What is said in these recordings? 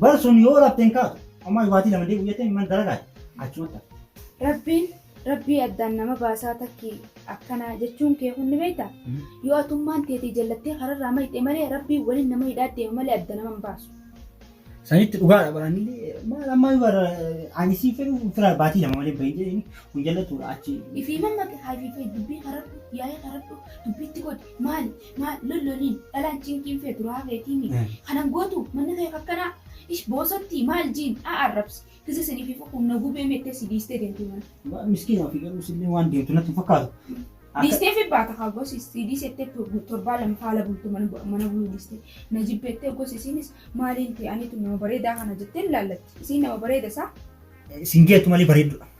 Bar sun yoo rafte hin kaatu. Ammaa yubaatii lama deebi'u jettee man dalagaati. Achumatti hafte. Rabbiin Rabbii addaan nama baasaa takki akkana jechuun kee kun ni beekta? Yoo atummaan teetii jallattee kararraa mayxee malee Rabbiin waliin nama hidhaa deema malee adda nama hin baasu. Sanitti dhugaadha bara anillee maal ammaa yoo bara ani siin fedhu fira baatii lama malee bahin jedheen kun jallatuudha achi. Ifiiman maqe haa ifiifee dubbii karadhu yaa'ee karadhu dubbiitti godhi maali Maal lolloliin dhalaan cinqiin feetu rahaa keetiimi kanan gootu manni kee kakkanaa ish boosattii maal jiin a arrabsi kisa sinifi fukuun na gubee mettee si diistee deemtii mana. Miskiina ofii garuu isillee waan deemtu natti hin fakkaatu. Akka Diistee fi baata kaa gosi si diisettee torbaa lama faala bultu mana mana buluu diistee na jibbeettee gosi isiinis maaliin ta'e aniitu nama bareedaa kana jettee hin laallatti isiin nama bareeda isaa isin geettu malee bareeddudha.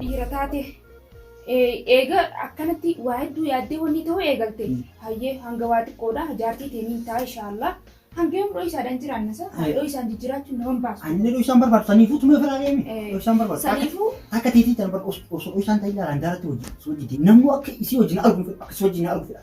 dhiira taate eega akkanatti waa hedduu yaaddee wanni ta'uu eegalte hayyee hanga waa xiqqoodha jaartii teeniin taa inshaallah hanga yoom dho'isaadhaan jiraannasa dho'isaan jijjiraachuun nama hin baasu. Anni dho'isaan barbaadu saniifuu tumee ofirraa deemi. Dho'isaan barbaadu. Saniifuu Akka teetii tan barbaadu osoo dho'isaan ta'e ilaalaan daaratti hojii hojii namuu akka isii hojii na arguu fedha akka isii hojii na arguu fedha.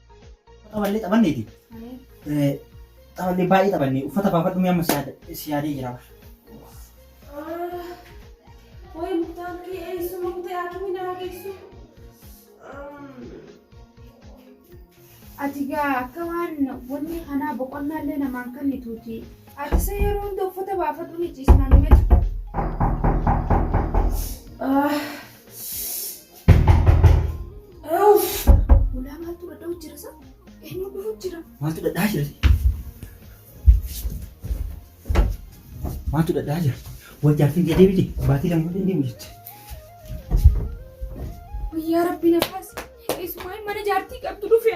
Taphallee taphanneeti. Taphallee baay'ee taphannee uffata baafadhu mee amma si yaadee jira. Wayi muktaan kee eessu muktee akkamii naa geessu? Ati gaa akka waan wanni kanaa boqonnaallee namaan kannituuti. Ati isa yeroo hunda uffata baafadhu ni ciisnaan miti. Ulaa maaltu dhadhaa jira sa? Eenyu dhufu jira? Maaltu dhadhaa jira? Maaltu dhadhaa jira? Wajjaartiin kee deebite baatii lama waliin deemu jette. Guyyaa rabbiin akkas. Isumaan mana jaartii qabdu dhufe.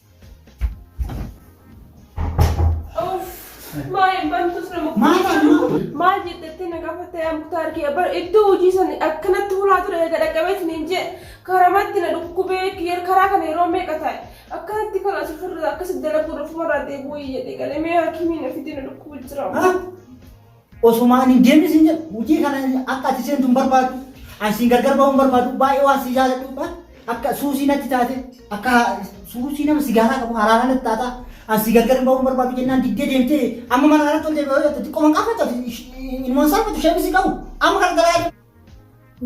maal jedhattee na gaafattee amkutaa argee bar iddoo hojii san akkanatti hulaa ture eega dhaqqabeetiin hin jee karamatti na dhukkubee kiyer karaa kana yeroo meeqa taa'e akkanatti kan as ofirra akkas dalaguu dhufumarraa deebi'uu jedhe galee mee haakimiin ofitee na dhukkubuu jira. Osoma ani hin deemin siin jedhu hojii kana akka ati seentu hin barbaadu. Ani siin gargar bahuu hin barbaadu. Baay'ee waan si jaaladhuudha. Akka suusii natti taate akka suusii nama sigaaraa qabu haraanaa natti taata. Ani si gargar bahuu hin barbaadu jennaan diddee deemtee amma mana kanatti ol deebi'ee hojjette xiqqoo manqaafatu ilmoon salphatu ishee misi qabu amma kana dalagaa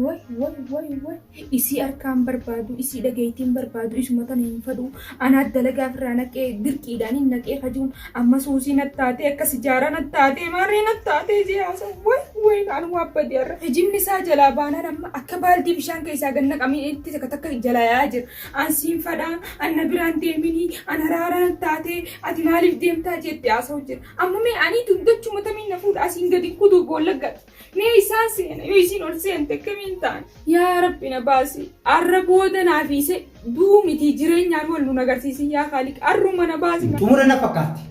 Woy woy woy woy isii harkaan barbaadu isii dhageeytiin barbaadu isuma tana hin fadhuu anaa dalagaa ofirraa naqee dirqiidhaan hin naqee kajuun amma suusii nattaatee akka sijaaraa nattaatee maarree nattaatee jee haasa'u woy woy kaan waan badee har'a hijibni isaa jalaa baanaan amma akka baaldii bishaan keessaa gad naqamee itti takka takka jalaa yaa'aa jira an siin fadhaa an na biraan deeminii an haraaraa nattaatee ati maaliif deemtaa jeetti haasa'u jira amma mee anii dugdachuma tamiin na fuudha asiin gadi kutuu boollaggadha. Mee isaan seena yoo isiin ol seente akkamiin ta'an? Yaa Rabbi na baasi. Arra booda naa fiise duu miti jireenyaan wal nun agarsiisin yaa Kaaliq. Arruma na baasi. Xumura na fakkaatti.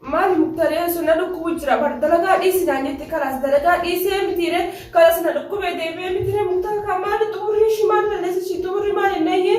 Maali muktaree sun na dhukkubu jira bar dalagaa dhiisi naan jette kalaas dalagaa dhiisee mitiire kalas na dhukkubee deebi'ee mitiire muktara kaa maali xumurri ishii maal balleessa ishii xumurri maal hin eeyyee.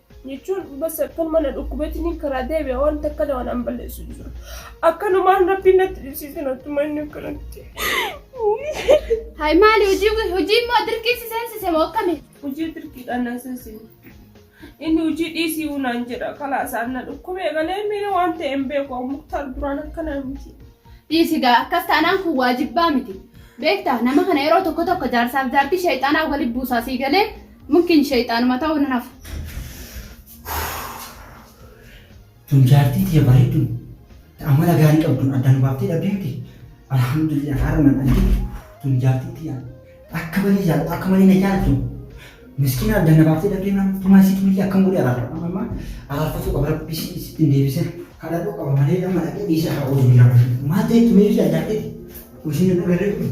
jechuun bas akkanuma na dhukkubeetiniin karaa deebi'a waan takka waan an balleessu hin jiru. Akkanumaan rabbiin natti dhibsiisan attuma inni akkanatti. Hay maali hojii hojii immoo dirqiisi seensise moo akkami? Hojii dirqiidhaan na seensise. Inni hojii dhiisii unaan jedha kalaa isaan na dhukkubee galee miira waan ta'e hin beeku muktaar duraan akkana miti. Dhiisi gaa akkas taanaan kun waajibbaa miti. Beektaa nama kana yeroo tokko tokko jaarsaaf jaartii sheexaanaa waliin buusaa sii galee Mukkin shayxaanuma ta'uu nan hafa. Tun jaartii tiyya bareedduun ta amala gaarii qabduun adda nu baaftee dhabdee miti. Alhamdulillah haara nan argite. Tun jaartii tiyya akka malee jaalatu akka malee na jaalatu. Miskiina adda na baaftee dhabdee naan tumaa isii tunillee akkam godhee araarfadha. Amma amma araarfatuu qaba rabbi isii sitti hin deebisin. Kadhadhuu qaba malee nama dhaqee dhiisa haa oolu biyya bashu. Maal ta'e tumee biyya jaartii? Ushiin hin dhagarree kun.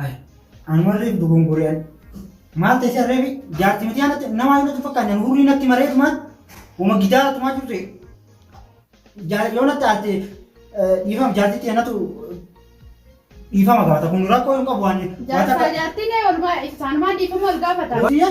Hai. Anu arreef dogongore an. Maal ta'e si arreefi jaarti miti anatti nama yoo natti fakkaanne anu hurrii natti maree tumaan uma gidaara tumaa jirtu Jaar- yoo natti aalte dhiifama jaartitti anatu dhiifama gaafata kun rakkoo hin qabu waan Jaarsaa jaartiin walumaa isaanumaa dhiifama wal gaafata. Yoo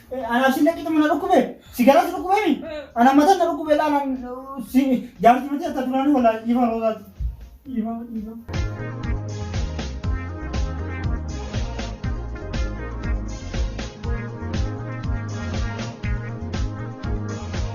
Anaa si laqitu mana dhukkube sigara si dhukkube mi ana mata na dhukkube la nan si jaarti mati atta durani wala ifa roza ifa ifa